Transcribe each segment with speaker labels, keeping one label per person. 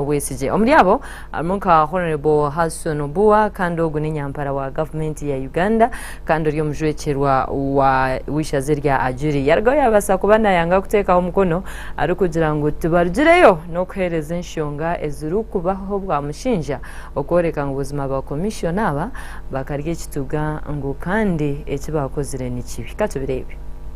Speaker 1: obwesigye. Omuri abo harimu nka Honourable Hasson Obua kandi ogu n'enyampara wa gavumenti ya Uganda kandi ori omujwekyerwa wa w'eishaza erya Ajuri. Yarugaho yabaasa kuba nayanga kuteekaho omukono arikugira ngu tibarugireyo n'okuheereza enshonga ezirikubaho bwa mushinja okworeka ngu buzima ba commissioner aba bakarya ekituga ngu kandi eki baakozire ni kibi. Ka tubireebe.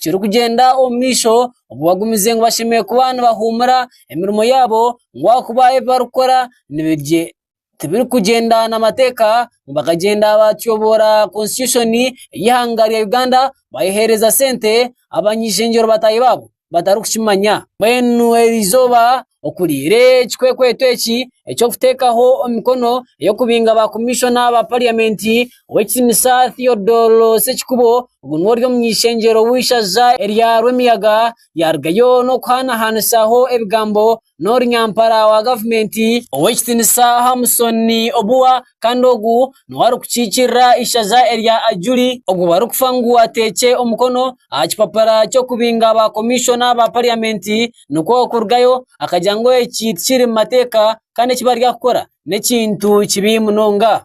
Speaker 2: kirikugyenda omu maisho obu bagumize ngu bashemereire kuba nibahuumura emirimo yaabo ngu ahakuba ebi barikukora tibirikugyenda na mateeka nibakagyenda batyoboora konsitityushoni y'eihanga rya Uganda bayeheereza sente abany'eishengyero bataahi baabo batarikukimanya. Mbwenu erizooba okuri reero ekikwekweto eki eky'okuteekaho emikono ey'okubinga ba komishona ba pariyamenti ow'ekitinisa Theodore Ssekikubo ogu niwe ori omu ishengyero ow'eishaza erya Rwemiyaga yaarugayo n'okuhaanahaanisaaho ebigambo n'orunyampara wa gavumenti ow'ekitinisa Hamson Obua. Kandi ogu niwe arikukiikirira eishaza erya Ajuri ogu barikufa ngu atekye omukono aha kipapura ky'okubinga ba komishona ba pariyamenti nikwo kurugayo akagira ngu eki tikiri mu mateeka kandi eki bari aha kukora n'ekintu kibi munonga.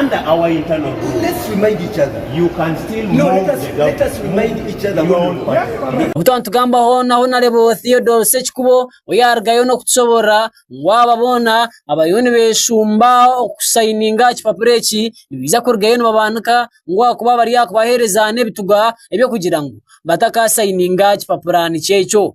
Speaker 3: Under our internal rules, Let's remind each other.
Speaker 4: you can still No,
Speaker 3: move let us, the let us
Speaker 4: government. remind each other Your what own we want. party. Obu twaba
Speaker 2: nitugambaho na Honarebo Theodore Sekikubo oyaarugayo n'okutushoboorora ngu aba boona abariyo nibeeshumba okusayininga ekipapura eki nibaija kurugayo nibabaanika ngu ahakuba bari aha kubaheereza n'ebituga eby'okugira ngu batakaasayininga kipapura nikyo ekyo.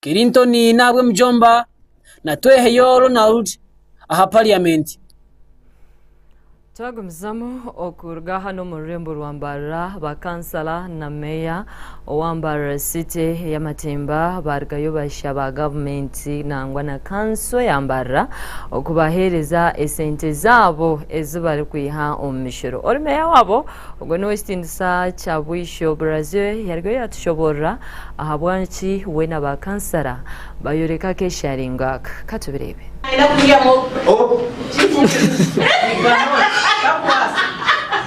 Speaker 2: Kirintoni n'ahabwa emijomba na Tweheyo Ronald aha pariyamenti.
Speaker 1: Twagumizamu okuruga hanu omu rurembo rwa Mbarara, bakansala na meeya owa Mbarara City ey'amatemba baarugayo bashaba gavumenti nangwa na kanso ya Mbarara okubaheereza esente zaabo ezi barikwiha omu mishooro. Ori meeya waabo, Ogwo n'ow'ekitiinisa kya bwisho. Braziel yariyo yaatushoboorora ahabwaki we na ba kansara baayoreka akeesharingo aka. Ka tubireebe.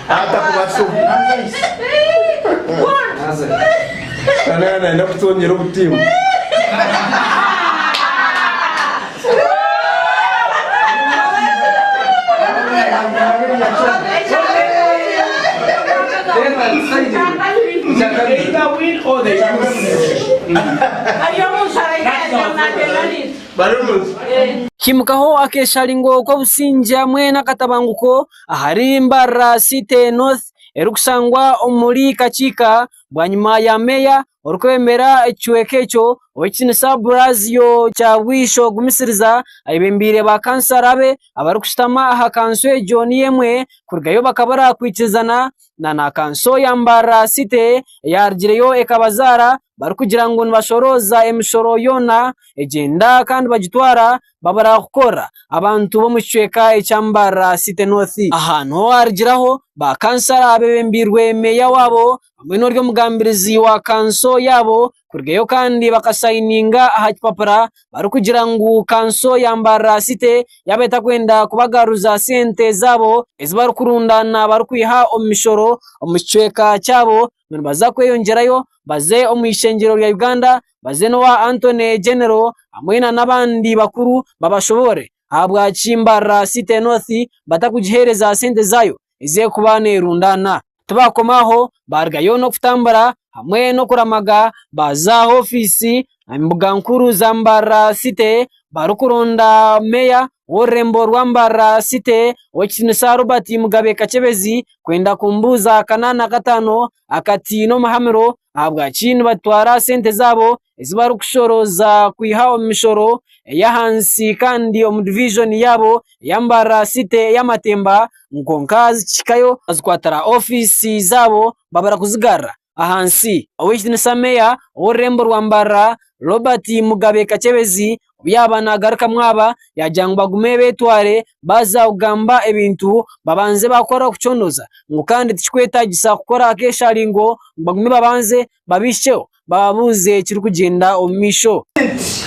Speaker 1: Taata kubaasa
Speaker 4: omu. Kandi aha naine kutongyera obutimba.
Speaker 2: Kimukaho akesharingo k'obusingye hamwe n'akatabanguko ahari Mbarara City North erikushangwa omuri Kakiika bwanyima ya meeya orikwebembera ekicweka ekyo ow'ekitinisa Blasio Kyabwisho Gumisiriza ayebembeire ba kansara be abarikushutama aha kanso egyo niyo emwe kurugayo bakaba barakwitizana na kanso ya Mbarara city eyarugireyo ekabazaara barikugira ngu nibashorooza emishoro yoona egyenda kandi bagitwara. babura kukorera abantu b'omu kicweka ekya Mbarara City North. Aha niho owaarugiraho baakansara abeebembeirwe meeya waabo hamwe n'ori omugambirizi wa kanso yaabo kurugayo kandi bakasayininga aha kipapura barikugira ngu kanso ya Mbarara City yaaba etarikwenda kubagaruza sente zaabo ezi barikurundaana barikwiha omu mishoro omu kicweka kyabo. nibaza kweyongyerayo baze omu ishengyero rya Uganda baze n'owa Antony General hamwe na n'abandi bakuru babashoboore ahabwaki Mbarara City North batakugiheereza sente zaayo ezi erikuba neerundaana. Tibaakomaho baarugayo n'okutambura hamwe n'okuramaga baaza aha ofiisi embuga nkuru za Mbarara city barikuronda meeya w'orurembo rwa Mbarara city ow'ekitinisa Robert Mugabe Kakyebezi kwenda kumubuuza akanaana kataano akati n'omuhamuro ahabwaki nibatwara sente zaabo ezi barikushoroza kwiha omu mishoro ey'ahansi kandi omu diviizoni yaabo eya Mbarara city eya Matemba kwonka zikahikayo bazikwatira ofiisi zaabo babura kuzigarura. ahansi. Ow'ekitinisa meeya ow'orurembo rwa Mbarara Robert Mugabe Kakyebezi obu yaabaire naagarukamu aba yaagira ngu bagume beetware baaza kugamba ebintu babanze baakora kucondoza ngu kandi tikikwetaagisa kukora akeesharingo ngu bagume babanze babihikyeho bababuuze ekirikugyenda omu maisho.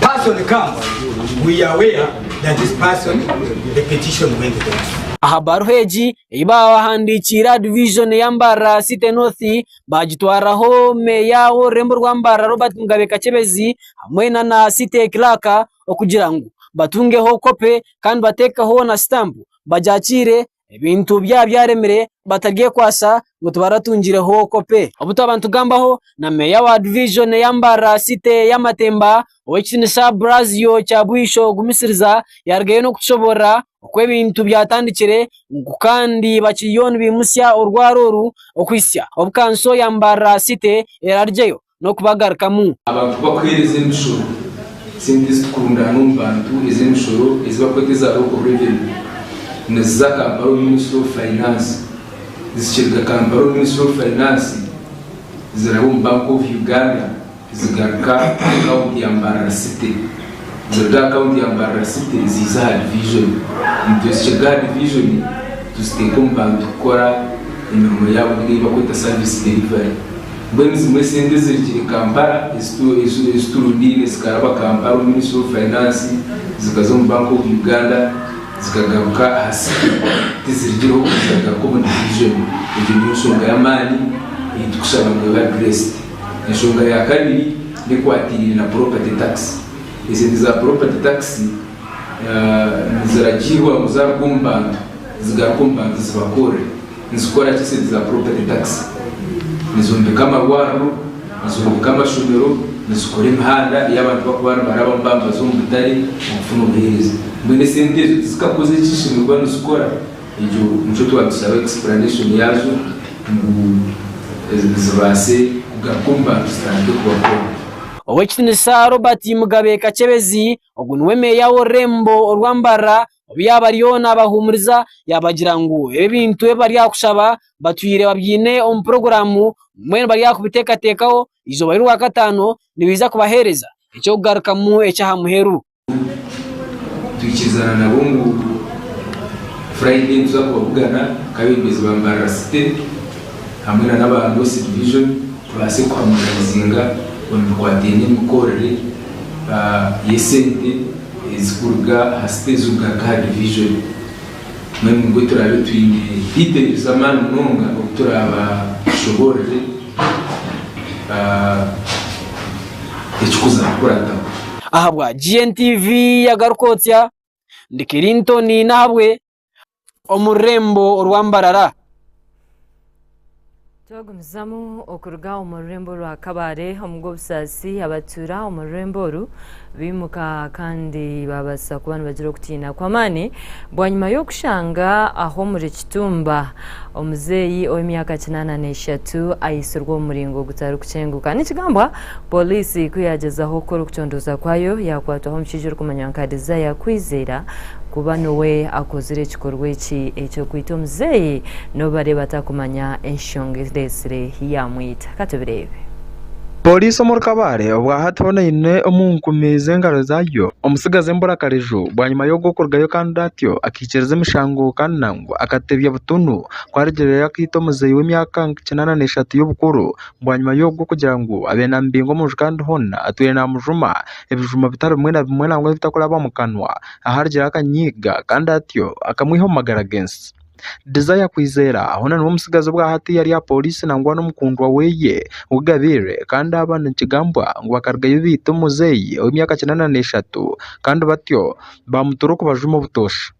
Speaker 5: Person comes, we are aware that this person, the petition went there. Aha baruha egi
Speaker 2: ei baahandiikiire aha division ya Mbarara City North, baagitwaraho meeya w'orurembo rwa Mbarara Robert Mugabe Kakyebezi hamwe na city clerk okugira ngu batungeho kopi kandi bateekeho na sitampu bagyakiire ebintu byaba byaremire bataryekwatsa ngu tibaratungireho kopi. Obu twaba nitugambaho na meeya wa divijoni eya Mbarara site ya Matemba ow'ekitinisa Brazio Kyabwisho Gumisiriza yaarugayo n'okutushoboorora oku ebintu byatandikire ngu kandi bakiriyo nibaimutsya orwaro oru okuhitsya obu kanso ya Mbarara site erarugyeyo n'okubagarukamu. Abantu ku bakuheereza
Speaker 6: emishoro, sente ezitukundana omu bantu ez'emishoro ezi barikweta eza Local Revenue, niziza Kampala omu Ministry of Finance. Zikiruga Kampala omu Ministry of Finance, ziraba omu Bank of Uganda zigaruka aha akaunti ya Mbarara City. Ziruga aha akaunti ya Mbarara City ziiza aha Division. Nitwe zikiruga aha Division tuziteeka omu bantu kukora emirimo yaabo nari ei barikweta Service Delivery. Mbwenu zimwe sente ezirugire Kampala eziturundiine zikaraba Kampala omu ministry of finance zikaza omu bank of Uganda zikagaruka aha city tizirugire oku zikagaruka omu division egyo niyo nshonga y'amaani eyitukushaba ngu ebe addressed. Enshonga ya kabiri n'ekwatiriire na property tax esente za property tax niziragiirwa ngu zaruga omu bantu zigaruke omu bantu zibakorre. Nizikora ki sente za property tax? Nizombeka amarwariro, nizombeka amashomero, nizikora emihanda eyi abantu bakuba nibarabamu baba nibaza omu butare okufuna obuhereza. Mbwenu esente ezo tizikakoze eki zishemererwa nizikora? Egyo nikyo twatusaba explanation yazo ngu zibase kugaruka omu bantu zitandike kubakora. Ow'ekitinisa
Speaker 2: Robert Mugabe Kakyebezi, ogu niwe Meeya w'orurembo orwa Mbarara, Obu yaaba ariyo naabahuumuriza yaabagira ngu ebi ebintu ebi bari aha kushaba batwire babyine omu puroguraamu mbwenu bari aha kubiteekateekaho eizooba ry'orwakataano nibaija kubaheereza eky'okugarukamu eky'aha muheru. Twikirizana
Speaker 6: nabo ngu Furaide nituza kubabugana nk'abeebembezi ba Mbarara City hamwe n'aba North Division tubaase kuhamonaizinga omu bikwataine n'emikoorere y'esente. ezikuruga aha siteegi okugaruka aha divijoni. Mbwenu nibwo turaabe twine diteeli z'amaani munonga obu turaaba tushoboorire ekikuza kukurataho. Ahabwa
Speaker 2: GNTV yagaruka otya? Ndi Kirintoni Nahabwe omu rurembo orwa Mbarara.
Speaker 1: Twagumizamu okuruga omu rurembo orwa Kabale omu Gobusaasi abatuura omu rurembo oru baimuka kandi baabaasa kuba nibagira okutiina kw'amaani bwanyima y'okushanga ahu omuri Kituumba omuzeeyi ow'emyaka kinaana n'eshatu aitsirwe omu muringo gutarikukyenguka. Nikigambwa Poliisi ku yaagyezaho kukora okucondooza kwayo yaakwatwaho omushaija orikumanywa nka Desire Kwizera kuba niwe akozire ekikorwa eki eky'okwita omuzeeyi n'obubareeba atakumanya enshonga ereetsire yaamwita. Ka tubireebe. Pooriisi
Speaker 7: omuri Kabale obwahati hoona eine omu nkumi z'engaro zaayo omutsigazi emburakariju bwanyima y'ogw'okurugayo kandi atyo akaikiriza emishango kandi nangwa akatebya butunu ku arigireyo akaita omuzeeyi w'emyaka nka kinaana n'eshatu y'obukuru Bwanyima y'ogwo okugira ngu abe naamubinga omu nju kandi hoona atwire naamujuma ebijuma bitari bimwe na bimwe nangwa ebitakuraba omu kanwa aharugire akanyiiga kandi atyo akamwiha omu magara g'ensi. Desire Kwizera hoona niwe mutsigazi obwa hati ari aha pooriisi nangwa n'omukundwa we ou gabaire kandi aba nikigambwa ngu bakarugayo baita omuzeeyi ow'emyaka kinaana n'eshatu kandi batyo baamutuura okubajuma obutoosha.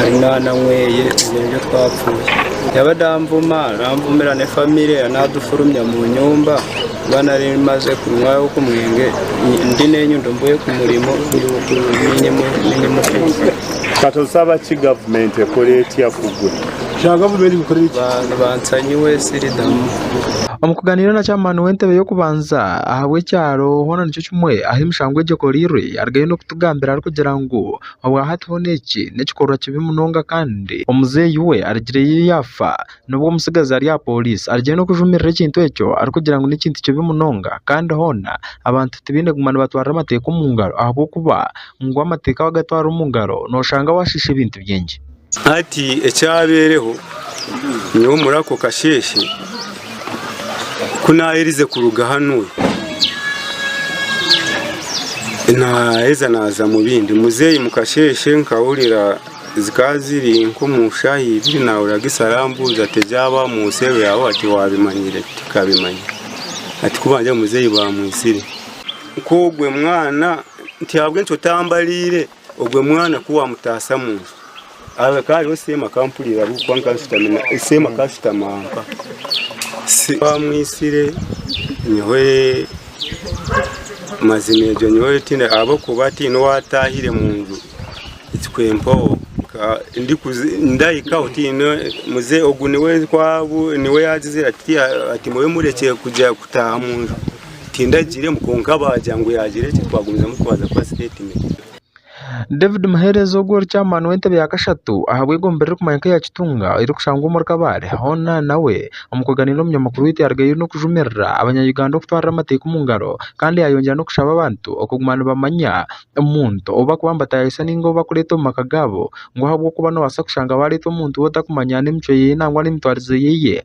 Speaker 8: ari mwana mweye ebyo nibyo twapfuye yabade anvuma nanvumira ne family ye nadufurumya munyumba kuba nari maze kunywa oku mwenge ndi nenyundo mvuye kumurimo
Speaker 9: kati osaba ki government ekore etya kugwe
Speaker 10: nibansanyiwe
Speaker 8: siridamu Omu kuganiira
Speaker 7: na chairman w'entebe y'okubanza ahabw'ekyaro hoona nikyo kimwe ahu emishango egi ekoreirwe arigayo n'okutugambira arikugira ngu Obwa hati hona eki n'ekikorwa kibi munonga kandi omuzeeyi we arigireyo yaafa nibwo omutsigazi ari aha pooriisi arigireyo n'okujumirira ekintu ekyo arikugira ngu n'ekintu kibi munonga kandi hoona abantu tibaine kuguma nibatwara amateeka omu ngaro ahabw'okuba ngu amateeka wagatwara omu ngaro nooshanga waashiisha ebintu bingi. Hati
Speaker 8: ekyabaireho, nyowe omuri ako kasheeshe ku naaherize kuruga hanu, naaheza naaza mu bindi. Muzeeyi mu kasheeshe nkahurira zikaba ziri nk'omu shaaha ibiri naahurira Gisa arambuuza ati, Ebyaawe omu nsi eyo ya hati waabimanyire? Tikabimanya. Hati ku bangire ngu muzeeyi baamwitsire. Nk'ogwo mwana nti ahabw'enki otambariire? Ogwe mwana ku wamutaasa mu nju, hakaba hariho seema akampurira ahabw'okuba nkaba nshutami na seema akaba ashutami aha nka. Se ku amwitsire, nyowe mazima egyo nyowe tiine ahabw'okuba tiine ou ataahire mu nju ekikwempaho nkaba ndikuzi ndahikaho tiine muzei ogu niwe ku abu niwe yaagizire ati tihaine ati mube murekye kuza kutaaha mu nju. David
Speaker 7: Muhereza ogwo ori chairman w'entebe ya kashatu ahabw'egombe eririkumanywa nka eya Kitunga erikushangwa omuri Kabale hoona nawe omukuganiira omunyamakuru waitu yarugayo n'okujumirira abanya Uganda okutwarira amateeka omu ngaro kandi yayongyera n'okushaba abantu okuguma nibamanya omuntu ou bakuba nibatayayisa ninga ou bakureeta omu maka gaabo ngu ahabw'okuba nobaasa kushanga bareeta omuntu ou otakumanya n'emicwe yeye nangwa n'emitwarize yeye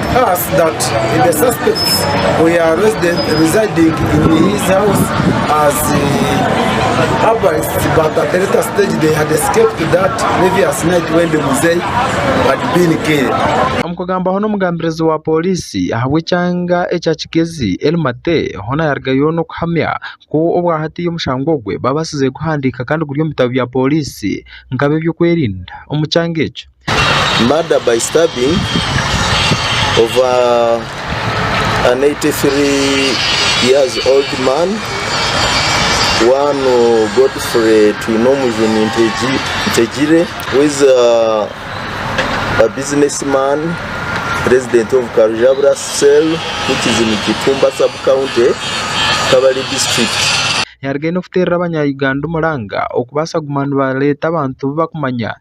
Speaker 11: Omu kugambaho
Speaker 7: n'omugambirizi wa poriisi ahabw'ekyanga ekya Kigezi El Mate hoona yarugayo n'okuhamya ku obwahati omushango ogwe babaasize kuguhandiika kandi guri omu bitabo bya poriisi nk'abeby'okwerinda omu kyanga ekyo. Murder
Speaker 12: by stabbing of an 83 years old man, one Godfrey Twinomujuni Ntegire who is a business man, resident of Karujabura cell which is in Kipumba sub county, Kabale district. Yarugaine kuteerera
Speaker 7: abanya Uganda omuranga okubaasa kuguma nibareeta abantu bu bakumanya.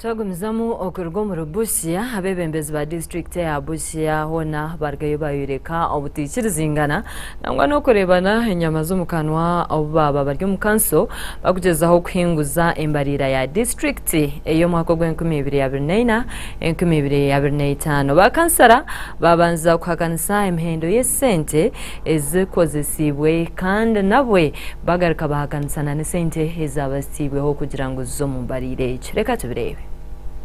Speaker 1: Twagumizamu okuruga omuri Busia, abeebembezi ba disiturikiti eya Busia hoona baarugayo baayoreka obutaikirizingana nangwa n'okureebana enyama z'omu kanwa obu baaba bari omu kanso bakugyezaho kuhinguza embariira ya disiturikiti ey'omwaka ogw'enkumi ibiri abiri naina, enkumi ibiri abiri naitaano. Baakansara baabanza kuhakanisa emihendo y'esente. ezikozesiibwe kandi nabwe bagaruka bahakanisa na n'esente ezaabazitiibweho kugira ngu zize omu mbariira egyo. Reka tubireebe.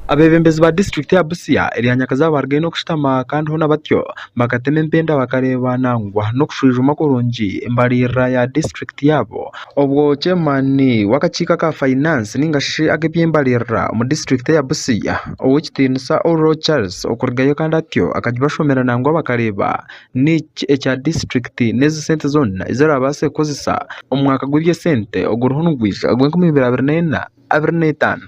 Speaker 1: Abeebembezi
Speaker 7: ba disiturikiti ya Busia erya Nyakazaawe baarugaine okushutama kandi hoona batyo bakatema empenda bakareeba nangwa n'okushwijuma kurungi embariirira ya disiturikiti yaabo obwo Chairmaani w'akakiiko aka Fainansi nainga shi ag'eby'embariirira omu disiturikiti eya Busia, Ow'ekitiinisa Oulo Charles okurugayo kandi atyo akagibashomera nangwa bakareeba Niki ekya disiturikiti n'ezi sente zoona ezi oraabaase kukoresa omu mwaka gw'eby'esente oguriho nigwija ogw'enkumi ibiri abiri n'ena
Speaker 13: abiri n'etaano.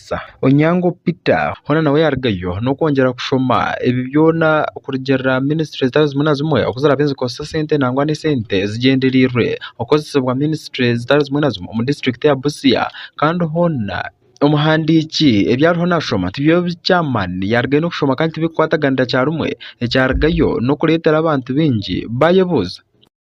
Speaker 7: kubaasa. Onyango Peter hoona nawe yaarugayo n'okwongyera kushoma ebi byona kurugiirira aha minisitule zitari zimwe na zimwe oku ziraabe nizikoresa sente nangwa n'esente zigyenderiirwe okukoresibwa minisitule zitari zimwe na zimwe omu disiturikiti ya Busia kandi hoona omuhandiiki ebi ariyo naashoma tibyo bi chairman yaarugayo n'okushoma kandi tibirikukwataganira kyarumwe ekyarugayo n'okureetera abantu baingi baayebuuza.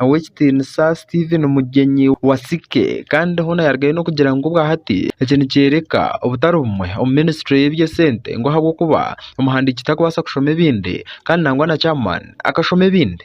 Speaker 7: Ow'ekitiinisa Stephen Mugyenyi Wasike kandi hoona yarugayo n'okugira ngu obwa hati eki nikyoreka obutari bumwe omu minisitule y'eby'esente ngu ahabw'okuba omuhandiiki tarikubaasa kushoma ebindi kandi nangwa na chairman akashoma ebindi.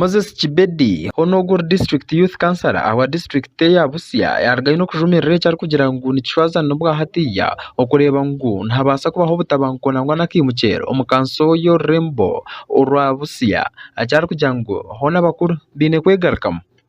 Speaker 14: Moses
Speaker 7: Kibedi, hoona ogwo ori district youth councillor ahabwa district eya Busia yaruga aine okujumirira eki arikugira ngu nikishwazana obwa hatiiya okureeba ngu nihabaasa kubaho obutabanguko nangwa n'akaimukyero omu kanso y'orurembo orwa Busia eki arikugira ngu hoona abakuru baine kwegarukamu.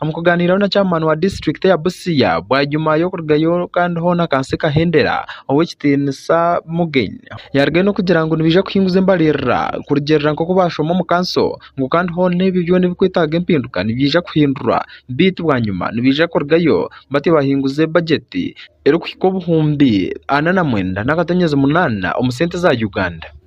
Speaker 15: Omu
Speaker 7: kuganiraho na Chairman wa district ya Busia bwanyima y'okurugayo kandi hoona kansi kahendera, Ow'ekitiinisa Mugen yarugayo n'okugira ngu nibaija kuhinguza embaririra kurugiirira nk'oku baashoma omu kanso ngu kandi hoona ebyo byona ebirikwetaaga empinduka nibiija kuhindurwa beitu bwanyima nibaija kurugayo batyo bahinguze budget erikuhika obuhumbi ana na mwenda n'akatonyezi munaana omu sente za Uganda.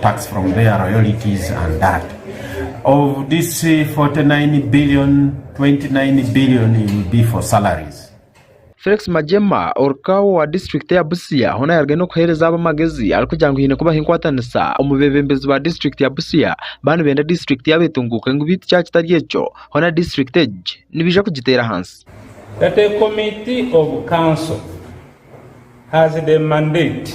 Speaker 3: Tax from their royalties and that of this 49 billion 29 billion will be for salaries. Felix
Speaker 7: Magyema oruka owa disiturikiti ya Busia hoona yaarugayo n'okuheereza abo amagezi arikugira ngu haine kubaho enkwatanisa omu beebembezi ba disiturikiti ya Busia baaba nibenda disiturikiti yaabo etunguuke ngu beitu kyaaba kitari ekyo hoona disiturikiti egi nibaija kugiteera ahansi. That a
Speaker 14: committee of council has the mandate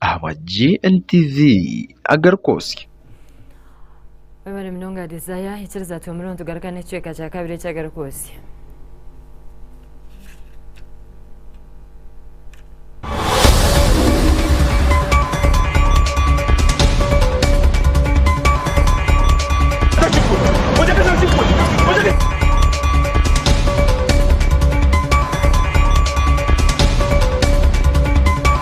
Speaker 7: ahabwa GNTV agari kwotsya.
Speaker 1: Webare munonga Desire, ikiriza twemuremu tugarukane ekicweka kya kabiri ekya gari kwotsya.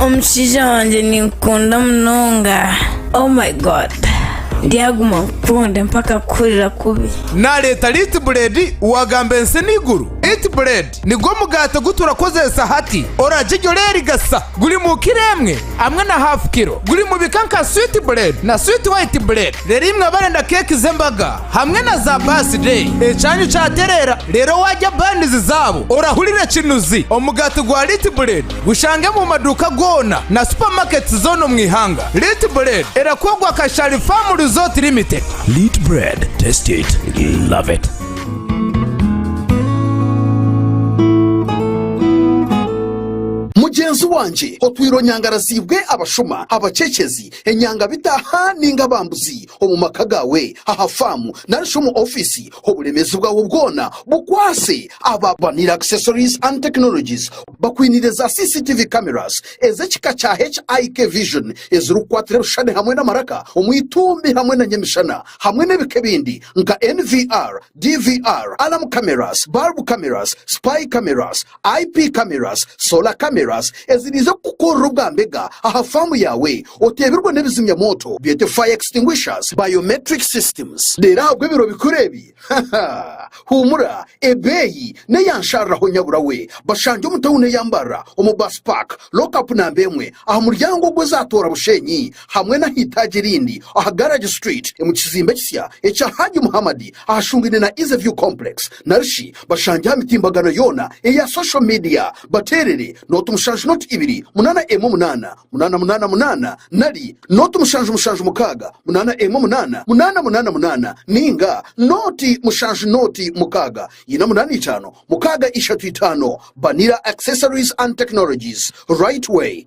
Speaker 16: omushaija wangye ninkukunda munonga oh my god ndyaguma nkukunde mpaka kuhurira kubi Naleeta Light
Speaker 17: Bread wagamba ensi n'eiguru. Light Bread nigwo omugaati ogu turakozeesa hati. Orarye gye oreerigasa. Guri mu kiro emwe hamwe na haafu kiro. Guri mu bika nka Sweet Bread na Sweet White Bread. Reero imwe abarenda keeki z'embaga, Hamwe na za baasi dee. Ekyanyu kyatereera reero waarya bandizi zaabo orahurira ekinuzi. Omugaati gwa Liit Bread gushange mu maduuka goona na supamaketisi zoona omu ihanga. Liit Bread erakorwa Kashari Farm Resort Limited. Liit Bread,
Speaker 18: taste it, love it.
Speaker 19: Mugyenzi wangye otwire onyangaraziibwe abashuma, abaceekyezi, enyangabitaaha ninga abambuzi. omu maka gaawe, aha faamu, narishi omu ofiisi, oburemeezi bwaawe bwoona bukwaatse aba Vanilla Accessories and Technologies bakwiinire za CCTV cameras ez'ekika kya HIK Vision ezirikukwatira ebishushani hamwe n'amaraka omu itumbi hamwe na ny'emishana hamwe n'ebika ebindi nka NVR, DVR, alarm cameras, bulb cameras, spy cameras, IP cameras, solar cameras eziriize kukukoorera obwa mbega aha faamu yaawe oteebirwe n'ebizimya mwoto byete fire extinguishers, biometric systems reero ahabw'ebiro bikuru ebi ha ha huumura ebeeyi n'eya nsharuraho nyabura we bashange omu tawuni eya Mbarara omu bus park, lock up namba emwe aha muryango ogw'ezaatoora Bushenyi. hamwe n'aheitaagi erindi aha Garage Street omu kizimbe ekisya ekya Hajji Muhammad ahashungaine na Easy View Complex narishi bashangye aha mitimbagano yoona eya social media bateerere nooti mushanju nooti ibiri munaana emwe munaana munaana munaana munaana nari nooti mushanju mushanju mukaaga munaana emwe munaana munaana munaana munaana nainga nooti mushanju nooti mukaaga ina munaana itaano mukaaga ishatu itaano Banira Accessories and Technologies Right Way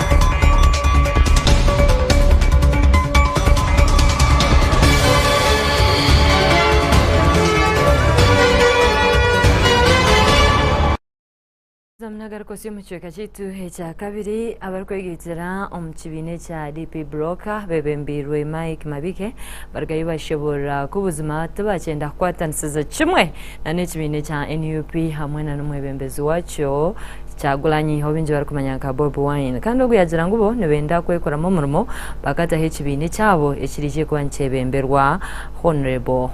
Speaker 1: Nagaruka osi omu kicweka kyaitu ekyakabiri abarikwegeigyera omu kibiina ekya DP Broker bebembeirwe Mike Mabike barigayo bashoboorora ku buzima tibakyenda kukwatanisiza kimwe na n'ekibiina ekya nup hamwe na n'omwebembezi wakyo Kyagulanyi ou baingi barikumanya nka Bobi Wine kandi ogu yagira ngu bo nibenda kwekoramu omurimo bakataho ekibiina ekyabo ekiriije kuba nikyebemberwa Hon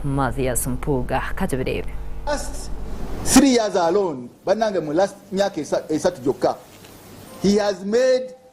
Speaker 1: Mathias Mpuuga. Ka tubireebe. Last
Speaker 4: three years alone banange mu last myaka esatu gyokka he has made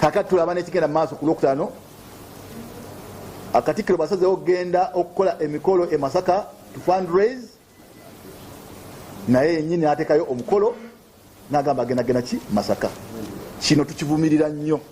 Speaker 4: Kaakati turaba n'ekigenda mu maaso ku Lwokutaano aha Katikkiro baasazeeho kugenda okukora emikoro e Masaka to fundraise naye yenyini naateekayo omukoro naagamba agenda kugenda ki Masaka. Kino tukivumirira nnyo.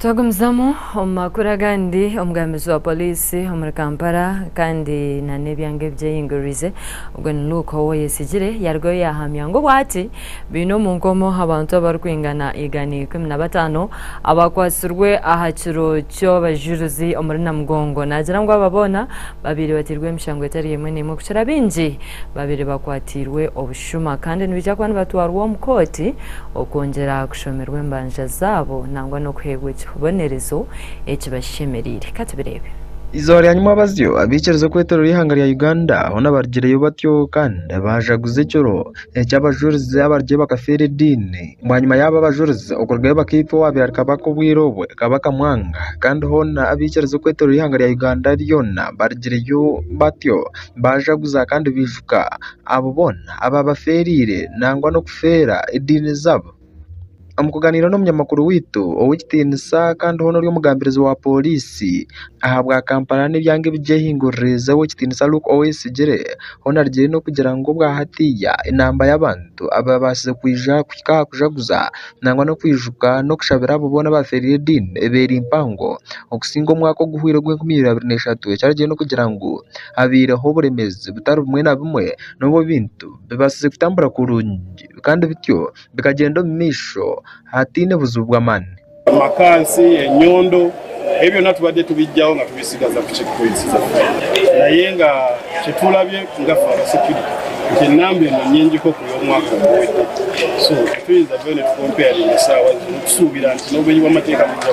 Speaker 1: Twagumizamu omu makuru agandi, omugambizi wa poliisi omuri Kampala kandi nana ebyanga ebyeyingururize ogwo ni Luke Owoyesigyire yarugayo yahamya ngu obwati baine omu nkomo abantu abarikwingana igana ikumi na bataano abakwatsirwe aha kiro ky'abajuruzi omuri Namugongo nagira ngu aba boona babaire batirwe emishango etari emwe n'emwe kukira baingi babaire bakwatiirwe obushuubu. Shuma kandi nibaija kuba nibatwarwa omu kooti okwongyera kushomerwa embanja zaabo nangwa n'okuheebwa ekibonerezo ekibashemereire. Ka tubireebe. Eizooba rya nyima
Speaker 7: abazyo abaikiriza okwetorera eihanga rya Uganda hoona barugireyo batyo kandi baajaguza ekiro eki abajurizi abarugire bakafeera ediini. Bwanyima yaabo abajurizi okurugayo bakaitwa owaabaire kabaka obwire obwe, Kabaka Mwanga kandi hoona abaikiriza okwetorera eihanga rya Uganda ryoona barugireyo batyo baajaguza kandi baijuka. Abo boona abaabafeereire nangwa n'okufeera ediini zaabo. Omu kuganiira n'omunyamakuru waitu ow'ekitiinisa kandi hoona ori omugambirizi wa pooriisi ahabwa Kampala n'ebyanga ebi gyehinguririize ow'ekitiinisa Luke Owoyesigyire hoona arugire n'okugira ngu obwa hatiiya enamba y'abantu abaabaasize kwija kuhika aha kujaguza nangwa n'okwijuka n'okushabira abo boona abaafeereire ediini eba eri mpango okusinga omwaka oguhweire ogw'enkumi ibiri abiri na ishatu eki arugire n'okugira ngu habaireho oburemeezi butari bumwe na bumwe n'obu ebintu bibaasize kutambura kurungi kandi bityo bikagyenda omu maisho hataine buzibu bw'amaani. Amakansi,
Speaker 14: enyondo, ebi byona tubadde tubiggyaho nga tubisigaza ku kirikuhuriisiza gye. Naye nga kyetulabye nga fe abasekirite nti enamba eno nyingi nk'oku y'omwaka oguwedde so tituyinza kubayo nitukompayaringa esaawa zinu tusuubira nti n'obumenyi bw'amateeka nibujja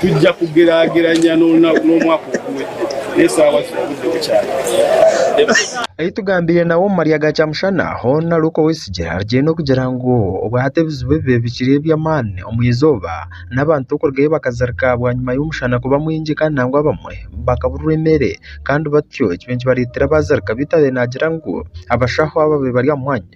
Speaker 14: Tugya kugeraageranya n'omwaka ogumwe n'eshaawa zirabugyeho kyaahi. Ahi tugambiire
Speaker 7: nawe omu marya ga kyamushana, Hon Luke Oweyesigire arugyeyo okugira ngu obwahati ebizibu ebibaire bikiri eby'amaani omu izooba n'abantu okurugayo bakazirika bwanyima y'omushana kuba mwingi kandi nangwa abamwe bakaburirwa emeere kandi batyo ekibaire nikibareetera baazirika beitu abaaire naagira ngu abashaho abaabaire bari aha mwanya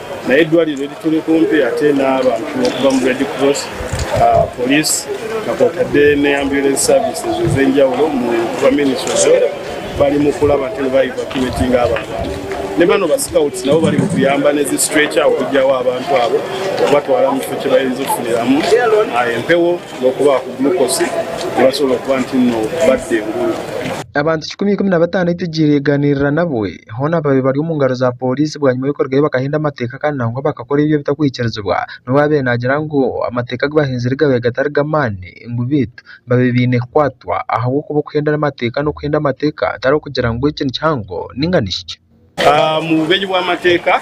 Speaker 14: nayo eidwariro erituri kumpi ate n'abantu okuva omu Red Cross, Police na kwotadde ne Ambulance Services ez'enjawulo omu kuba Ministry of Health barimu kuraba nti niba evacuatinga abo abantu. Ne bano ba Scouts nabo bari mukuyamba n'ezi Stretcher okugyaho abantu abo okubatwara omu kifo kibarinze okufuniramu empewo n'okubaha ku Glucose kubasobora okuba nti no badda engumbi. Abantu
Speaker 7: kikumi ikumi na bataano ei tugiire yaganiirira nabwe. hoona babaire bari omu ngaro za pooriisi bwanyima y'okurugayo bakahenda amateeka kandi nangwa bakakora ebi ebitakuhikiirizibwa n'obu baabaire naagira ngu amateeka agu bahenzire gaabaire gatari g'amaani ngu beitu baabaire baine kukwatwa ahabw'okuba okuhenda amateeka n'okuhenda amateeka tari okugira ngu eki nikihango nainga nihikye. Omu
Speaker 20: bumenyi bw'amateeka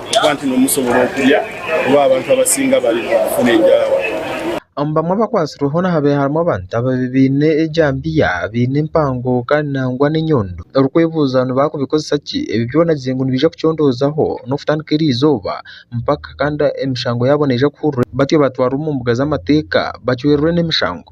Speaker 20: Ahabw'okuba nti niwe musobora okurya, kuba abantu abasinga bari kufuna enjara. Omu bamwe
Speaker 7: abakwatsirweho nihabaire harimu abantu ababaire baine ejambiya, abaine empango kandi nangwa n'enyondo. Orikwebuuza ngu baakubikozesa ki? Ebi byona bize ngu nibiija kucondoozaho n'okutandika eri izooba mpaka kandi emishango yaabo neija kuhurirwa batyo batwarwa omu mbuga z'amateeka bacwererwe n'emishango.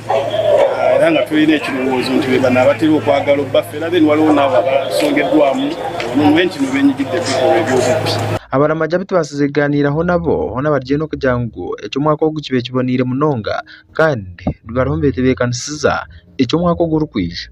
Speaker 20: era nga twine ekirowoozo nti beeba naabateera okwagala obubafera then waliwo naabo abasongerwamu nobu enki nobu enyigirira ebikorwa eby'obubi. Abaramagi abu
Speaker 7: tubaasize kugaaniiraho nabo hoona bari gye n'okugira ngu eki omwaka ogu kibe kiboneire munonga kandi bariho nibetebeekanisiza eki omwaka ogurikwija.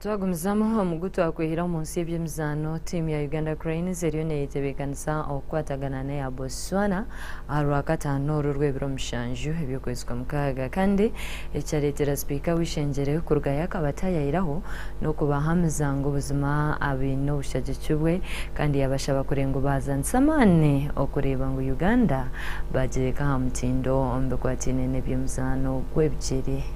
Speaker 1: Twagumizamu omugu twakwehera omu nsi y'ebyemizaano. Tiimu ya Uganda Cranes eriyo neyetebekanisa okukwatagana n'eya Botswana aha Rwakataano oru rw'ebiro mushanju eby'okwezi kwa mukaaga kandi ekyareetera sipiika w'eishengyere kuruga yakaba tayayiraho n'okubahamiza ngu buzima abaine obushagiki bwe kandi yabashaba kure ngu baazanise amaani okureeba ngu Uganda baagireka aha mutindo omu bikwataine n'ebyemizaano gw'ebigyere.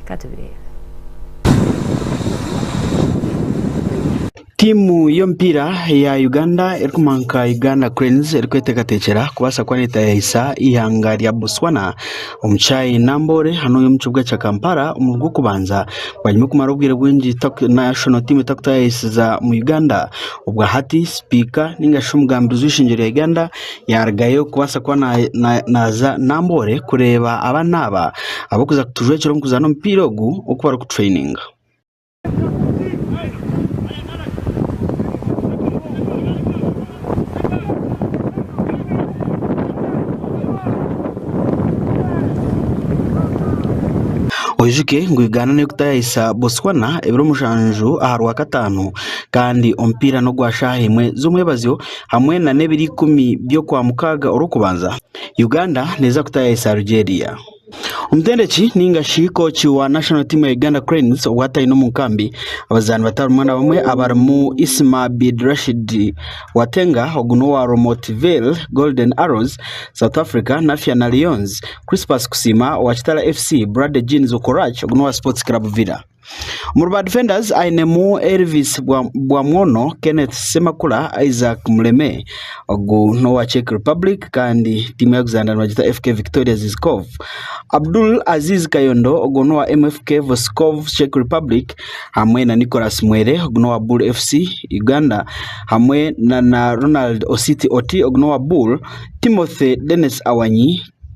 Speaker 5: Tiimu y'omupiira ya Uganda erikuma nka Uganda Cranes erikweteekateekyera kubaasa kuba neetaayaayisa eihanga rya Botswana omu kishaayi Namboole hanu omu kibuga kya Kampala omu gw'okubanza banyuma y'okumara obwire bwingi national team etakutaayaayisiza omu Uganda. Obwa hati sipiika nigashi omugambizi w'eishengyero rya Uganda yarugayo kubaasa kuba naaza Namboole kureeba abaana aba abarikuza kutujwekyera omu kuzaana omupiira ogu oku barikutureyininga. Oijuke ngu Uganda neyo kutayayisa Botswana ebiro mushanju aha Rwakataano kandi omupiira n'ogwa shaaha emwe z'omwebazyo. hamwe na n'ebiro ikumi by'okwa mukaaga orw'okubanza, Uganda neeza kuta yaahisa Algeria. Omutendeki ninga shi kooki wa national team ya Uganda Cranes obwataine omu nkambi abazaani bato abamwe na bamwe abarimu Isma Abid Rashid Watenga ogu n'owa Romotville Golden Arrows, South Africa, Nafyana Lions, Crispus Kusiima owa Kitara FC, Bradley Jeans Okorach ogu n'owa Sports Club Villa. Omuri ba difendazi ainemu Elvis Bwamwono, Kenneth Semakula, Isaac Muleme ogu n'owa Czech Republic kandi tiimu ya Uganda nibagyeta FK Victoria Zizkov. Abdul Aziz Kayondo ogwo n'owa MFK Voskov Czech Republic hamwe na Nicholas Mwere ogu n'owa Bul FC Uganda hamwe na Ronald Ositi Oti ogu n'owa Bul, Timothy Denis Awanyi,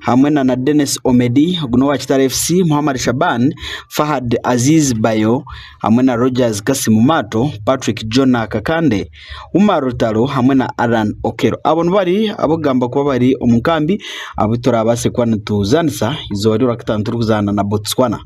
Speaker 5: hamwe na na Denis Omedi ogu n'owa Kitara FC, Mohammad Shaban, Fahad Aziz Bayo hamwe na Rogers Kasim Mato, Patrick Jonah Kakande, Umar Rutaro hamwe na Allan Okello. Abo nibari ab'okugamba kuba bari omu nkambi abu turaabaase kuba nituzaanisa eizooba ry'Orakataano turikuzaana na Botswana.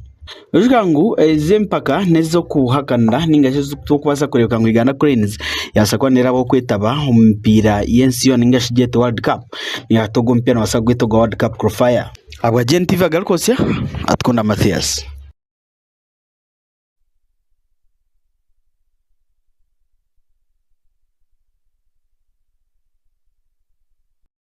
Speaker 5: Noshusha ngu ezi empaka n'ez'okuhakanira ninga shi ez'okubaasa kureebeka ngu Uganda Cranes yabaasa kuba neeraba okwetaba omu mipiira y'ensi yoona ninga shi gyete World Cup. Nainga hati ogu omupiira noobaasa kugweta ogwa World Cup Qualifier. Ahabwa GNTV agaruka otsya, Atukunda Mathias.